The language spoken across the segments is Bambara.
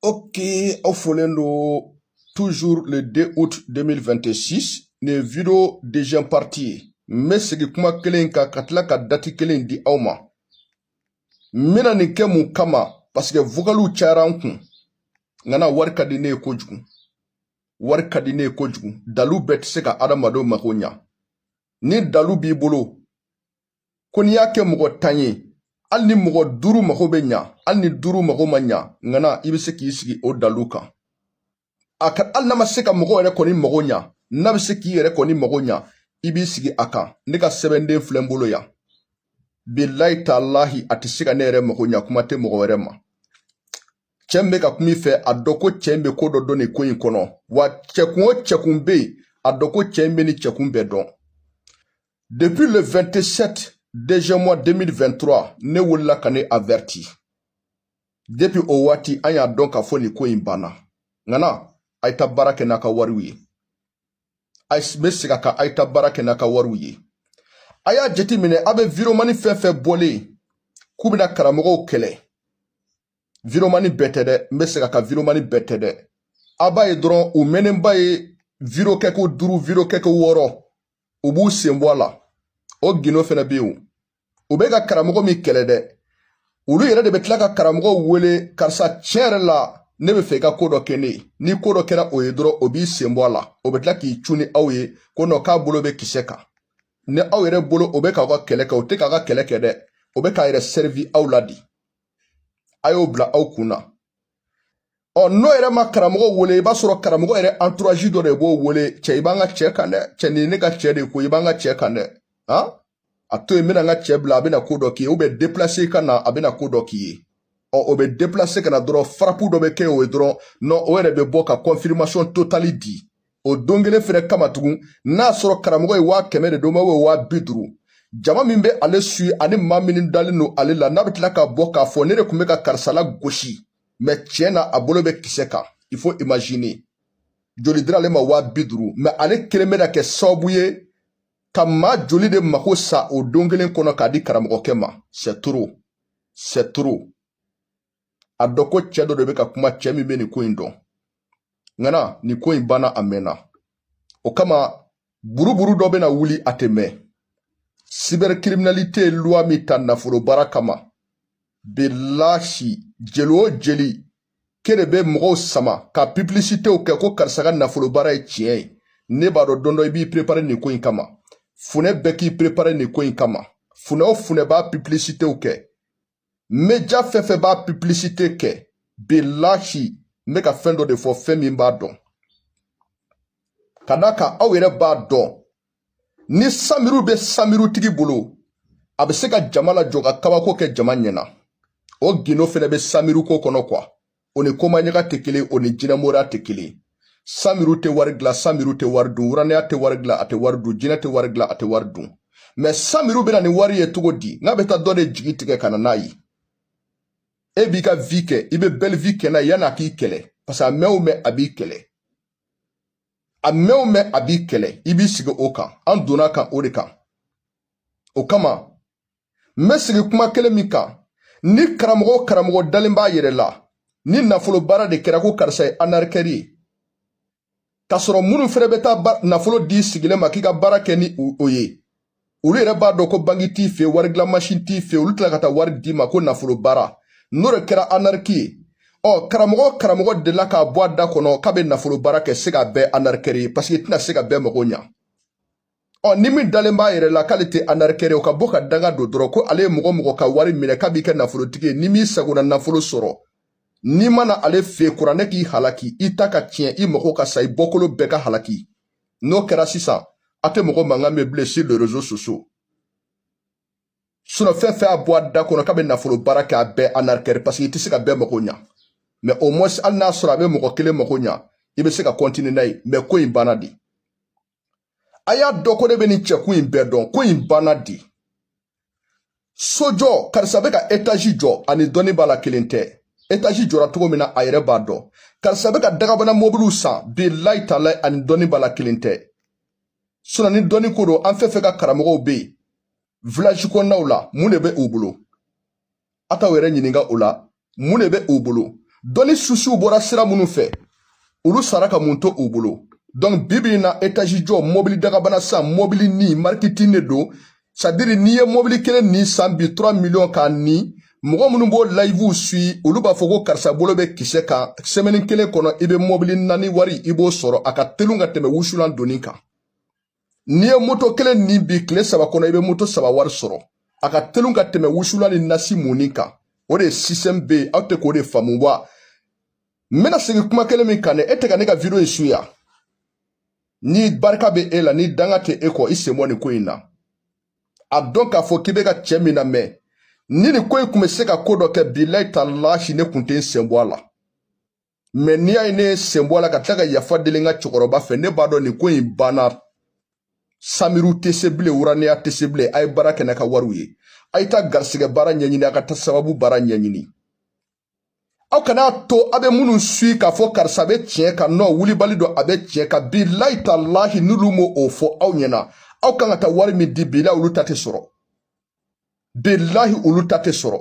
Ok, aw folen don toujours le 2 août 2026 nin video deuxième partie ye n bɛ segin kuma kelen in kan ka tila ka dati kelen di aw ma n bɛna nin kɛ mun kama parce que vocaliw cayara n kun ŋana wari ka di ne ye kojugu wari ka di ne ye kojugu dalu bɛɛ tɛ se ka adamadenw mako ɲa ni dalu b'i bolo ko n'i y'a kɛ mɔgɔ tan ye hali ni mɔgɔ duuru mago bɛ ɲa hali ni duuru mago ma ɲa ŋana i bɛ se k'i sigi o dalu kan a ka hali n'a ma se ka mɔgɔ yɛrɛ kɔni mago ɲa n'a bɛ se k'i yɛrɛ kɔni mago ɲa i b'i sigi a kan ne ka sɛbɛnden filɛ n bolo yan bilahi talahi a tɛ se ka ne yɛrɛ mago ɲa kuma tɛ mɔgɔ wɛrɛ ma cɛ min bɛ ka kuma i fɛ a dɔn ko cɛ in bɛ ko dɔ dɔn nin ko in kɔnɔ wa cɛkun o cɛkun bɛ yen a dɔn ko cɛ in bɛ nin cɛkun bɛɛ dɔn Depuis le 27 deuxième mois 2023 ne wulila ka nin averti depuis o waati an y'a dɔn k'a fɔ nin ko in banna ŋana a ye taa baara kɛ n'a ka wariw ye a bɛ segin a kan a ye taa baara kɛ n'a ka wariw ye a y'a jateminɛ a bɛ viromani fɛn fɛn bɔlen k'u bɛna karamɔgɔw kɛlɛ viromani bɛɛ tɛ dɛ n bɛ segin a kan viromani bɛɛ tɛ dɛ a b'a ye dɔrɔn u mɛnnenba ye viro kɛko duuru viro kɛko wɔɔrɔ u b'u sen bɔ a la o gindo fɛnɛ bɛ yen o bɛ ka karamɔgɔ min kɛlɛ dɛ olu yɛrɛ de bɛ tila ka karamɔgɔ wele karisa tiɲɛ yɛrɛ la ne bɛ fɛ i ka ko dɔ kɛ ne ye ni ko dɔ kɛra o ye dɔrɔn o b'i sen bɔ a la o bɛ tila k'i cun ni aw ye ko nɔn k'a bolo bɛ kisɛ kan ni aw yɛrɛ bolo o bɛ k'aw ka kɛlɛ kɛ o tɛ k'aw ka kɛlɛ kɛ dɛ o bɛ k'a yɛrɛ sɛrivi aw la de a y'o bila aw kun na ɔ n'o yɛrɛ ma karamɔgɔ wele i b'a sɔrɔ karamɔgɔ yɛrɛ anturazi dɔ de b'o wele cɛ i b'an ka cɛ kan dɛ cɛ nin ne ka cɛ de ko i b'an ka cɛ kan dɛ han a to yen n bɛna n ka cɛ bila a bɛna ko dɔ k'i ye o bɛ depilase ka na a bɛna ko dɔ k'i ye ɔ o bɛ depilase ka na dɔrɔn farapu dɔ bɛ kɛ o ye dɔrɔn nɔn o yɛrɛ bɛ bɔ ka kɔnfirimasiɔn totali di o don kelen fɛnɛ kama tugun n'a sɔrɔ karamɔgɔ ye waa kɛmɛ de d'o ma ou waa bi duuru jama min bɛ ale suivre ani maa min dalen don ale la n'a bɛ tila ka bɔ k'a fɔ ne de tun bɛ ka karisa lagosi mais tiɲɛ na a bolo bɛ kisɛ kan il faut imaginer joli dira ale ma waa bi duuru mais ale kelen bɛna kɛ sababu ye ka maa joli de mako sa o don kelen kɔnɔ k'a di karamɔgɔkɛ ma c'est trop c'est trop a dɔn ko cɛ dɔ de bɛ ka kuma cɛ min bɛ nin ko in dɔn ŋana nin ko in banna a mɛnna o kama buruburu dɔ bɛna wuli a tɛ mɛn cybercriminalité loi min ta nafolo baara kama bilahi jeli o jelikɛ de bɛ mɔgɔw sama ka publicitew kɛ ko karisa ka nafolo baara ye tiɲɛ ye ne b'a dɔn don dɔ i b'i prepare nin ko in kama funɛ bɛɛ k'i prepare nin ko in kama funɛ o funɛ b'a publicitew kɛ média fɛn fɛn b'a publicité kɛ bilahi n bɛ ka fɛn dɔ de fɔ fɛn min b'a dɔn ka d'a kan aw yɛrɛ b'a dɔn ni samiruw bɛ samirutigi bolo a bɛ se ka jama lajɔ ka kabako kɛ jama ɲɛna o gindo fɛnɛ bɛ samiruko kɔnɔ quoi o ni komaɲaga tɛ kelen o ni jinɛmoriya tɛ kelen samiru tɛ wari dilan samiru tɛ wari dun wuranɛya tɛ wari dilan a tɛ wari dun jinɛ tɛ wari dilan a tɛ wari dun mais samiru bɛ na ni wari ye cogo di n'a bɛ taa dɔ de jigi tigɛ ka na n'a ye e b'i ka vie kɛ i bɛ belle vie kɛ n'a ye yan'a k'i kɛlɛ parce que a mɛn o mɛn a b'i kɛlɛ a mɛn o mɛn a b'i kɛlɛ i b'i sigi o kan an donna kan o de kan o kama n bɛ sigi kuma kelen min kan ni karamɔgɔ o karamɔgɔ dalen b'a yɛrɛ la ni nafolo baara de kɛra ko karisa ye anarikɛri ye k'a sɔrɔ minnu fɛnɛ bɛ taa nafolo di sigilen ma k'i ka baara kɛ ni o ye olu yɛrɛ b'a dɔn ko banki t'i fɛ wari dilan masin t'i fɛ olu tila ka taa wari d'i ma ko nafolo baara n'o de kɛra anariki ye ɔ karamɔgɔ karamɔgɔ delila k'a bɔ a da kɔnɔ k'a bɛ nafolo baara kɛ c'est qu'a bɛɛ anarikɛri ye parce que i tɛna se ka bɛɛ mago ɲa ɔ ni min dalen b'a yɛrɛ la k'ale tɛ anarikɛri ye o ka bɔ ka danga don dɔrɔn ko ale ye mɔgɔ mɔgɔ ka wari minɛ k'a b'i kɛ nafolotigi ye n'i m'i sagona nafolo sɔrɔ n'i mana ale fɛ kuranɛ k'i halaki i ta ka tiɲɛ i mago ka sa i bɔkolo bɛɛ ka halaki n'o kɛra sisan a tɛ mɔgɔ mankan mɛn bilen sur les réseaux sociaux sinon fɛn fɛn y'a bɔ a da kɔnɔ k'a bɛ nafolo baara kɛ a bɛɛ anarikɛri parce que i tɛ se ka bɛɛ mago ɲa mais au moins hali n'a sɔrɔ a bɛ mɔgɔ kelen mago ɲa i bɛ se ka continuer n'a ye mais ko in banna de a y'a dɔn ko ne bɛ nin cɛkun in bɛɛ dɔn ko in banna de sojɔ karisa bɛ ka etazi jɔ ani dɔnni b'a la kelen tɛ etazi jɔra cogo min na a yɛrɛ b'a dɔn karisa bɛ ka dagabana mɔbiliw san bilayi talahi ani dɔnni b'a la kelen tɛ sinon ni dɔnni ko don an fɛn fɛn ka karamɔgɔw bɛ yen village kɔnɔnaw la mun de bɛ u bolo a t'aw yɛrɛ ɲininka o la mun de bɛ u bolo dɔnni susuw bɔra sira minnu fɛ olu sara ka mun to u bolo donc bi bi in na etazi jɔ mɔbili dagabana san mɔbili ni marketing de don c'est-à-dire n'i ye mɔbili kelen ni san bi 3 miliyɔn kan ni mɔgɔ minnu b'o layivuw sui olu b'a fɔ ko karisa bolo bɛ kisɛ kan semaine kelen kɔnɔ i bɛ mɔbili naani wari i b'o sɔrɔ a ka telun ka tɛmɛ wusulan donni kan n'i ye moto kelen ni bi tile saba kɔnɔ i bɛ moto saba wari sɔrɔ a ka telun ka tɛmɛ wusulan ni nasi munni kan o de ye système bɛɛ ye aw tɛ k'o de faamu wa n bɛna segin kuma kelen min kan dɛ e tɛ ka ne ka video in suya ni barika bɛ e la ni danga tɛ e kɔ i sen bɔ nin ko in na a dɔn k'a fɔ k'i bɛ ka cɛ min namɛn ni nin ko in tun bɛ se ka ko dɔ kɛ bilayi talahi ne tun tɛ n sen bɔ a la mɛ n'i y'a ye ne ye sen bɔ a la ka tila ka yafa deli n ka cɛkɔrɔba fɛ ne b'a dɔn nin ko in banna samiru tɛ se bilen wuraniya tɛ se bilen a ye baara kɛ n'a ka wariw ye a ye taa garisigɛ baara ɲɛɲini a ka taa sababu baara ɲɛɲini aw kana to a bɛ minnu suivre k'a fɔ karisa bɛ tiɲɛ kan nɔ wulibali don a bɛ tiɲɛ kan bilahi talahi n'olu m'o o fɔ aw ɲɛna aw kan ka taa wari min di bilahi olu ta tɛ sɔrɔ bilahi olu ta tɛ sɔrɔ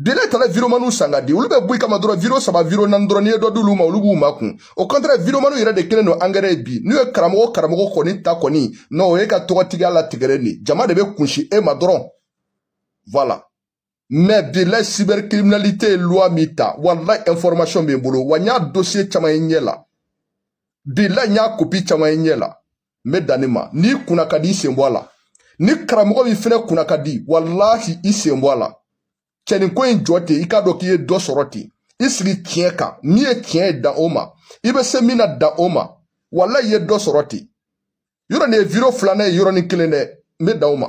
bilahi talahi wideomaniw san ka di olu bɛ bɔ i kama dɔrɔn wideyo saba wideyo naani dɔrɔn n'i ye dɔ d'olu ma olu b'u makun au contraire wideomaniw yɛrɛ de kɛlen don angɛrɛ ye bi n'u ye karamɔgɔ karamɔgɔ kɔni ta kɔni nɔ o y'e ka tɔgɔtigiya latigɛlen de jama de bɛ kunsin e ma dɔrɔn voilà mɛ bilayi cyber criminalité ye loi min ta walayi information bɛ n bolo wa n y'a dossier caman ye n ɲɛ la bilayi n y'a kopi caman ye n ɲɛ la n bɛ dan nin ma n'i kunna ka di i sen bɔ a la ni karamɔgɔ min fɛnɛ kunna ka di walahi i sen bɔ a la cɛnin ko in jɔ ten i k'a dɔn k'i ye dɔ sɔrɔ ten i sigi tiɲɛ kan min ye tiɲɛ ye dan o ma i bɛ se min na dan o ma walahi i ye dɔ sɔrɔ ten yɔrɔ nin ye wideyo filanan ye yɔrɔnin kelen dɛ n bɛ dan o ma